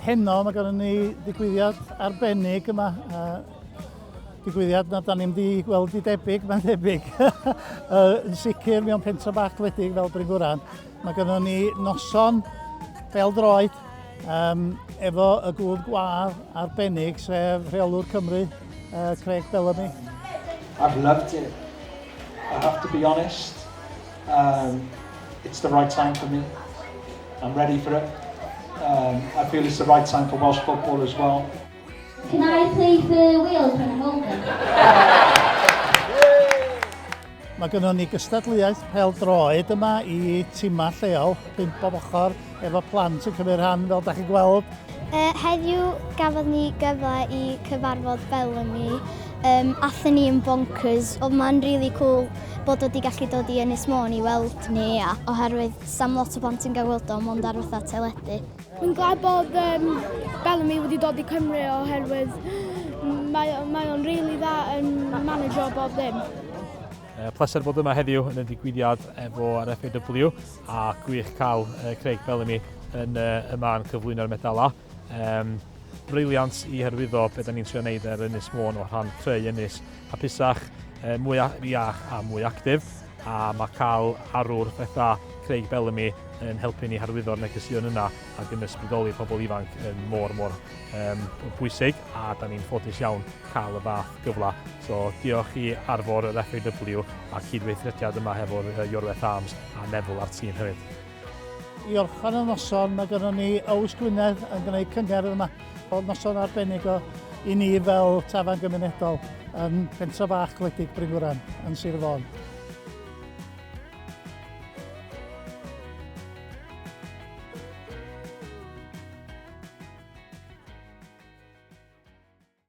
heno mae gennym ni ddigwyddiad arbennig yma. Uh, digwyddiad na da ni'n di gweld i debyg, mae'n debyg. uh, yn sicr mewn pentra bach gwledig fel Bryn Gwran. Mae gennym ni noson fel droed um, efo y gŵr gwadd arbennig sef rheolwr Cymru, uh, Craig Bellamy. I've loved it. I have to be honest. Um, it's the right time for me. I'm ready for it. Um, I feel it's the right time for Welsh football as well. Can I please be wheeled when I'm older? Mae gynnon ni gystadleuaeth pêl-droed yma i timau lleol, pump bob ochr, efo plant yn cymryd rhan, fel da chi'n gweld. Uh, heddiw gafodd ni gyfle i cyfarfod Bellamy. Um, Athyn ni yn bonkers, oedd ma'n really cool bod wedi gallu dod i Ynys Môn i weld ni, a oherwydd sam lot o blant yn gael weld o, mond ar fatha teledu. Mae'n glad bod um, Bellamy wedi dod i Cymru oherwydd mae, mae o'n rili really dda yn manager bob ddim. Uh, pleser bod yma heddiw yn y digwyddiad efo ar FAW a gwych cael uh, Craig Bellamy yn uh, yma yn cyflwyno'r medalau. Um, briliant i hyrwyddo beth ni'n trio wneud ar Ynys Môn o rhan creu ynys hapusach, uh, mwy iach a mwy actif. A mae cael arwr fetha Craig Bellamy yn helpu ni harwyddo'r negeseuon yna ac yn ysbrydoli pobl ifanc yn mor mor um, bwysig a da ni'n ffodus iawn cael y fath gyfle. So diolch i arfor yr FAW a cydweithrediad yma hefo'r Iorweth Arms a Neville a'r tîm hefyd. I orffen y noson, mae gennym ni Owys Gwynedd yn gwneud cyngerdd yma. Oedd noson arbennig o i ni fel tafarn gymunedol yn pentra bach gwledig Brynwran yn Sir Fôn.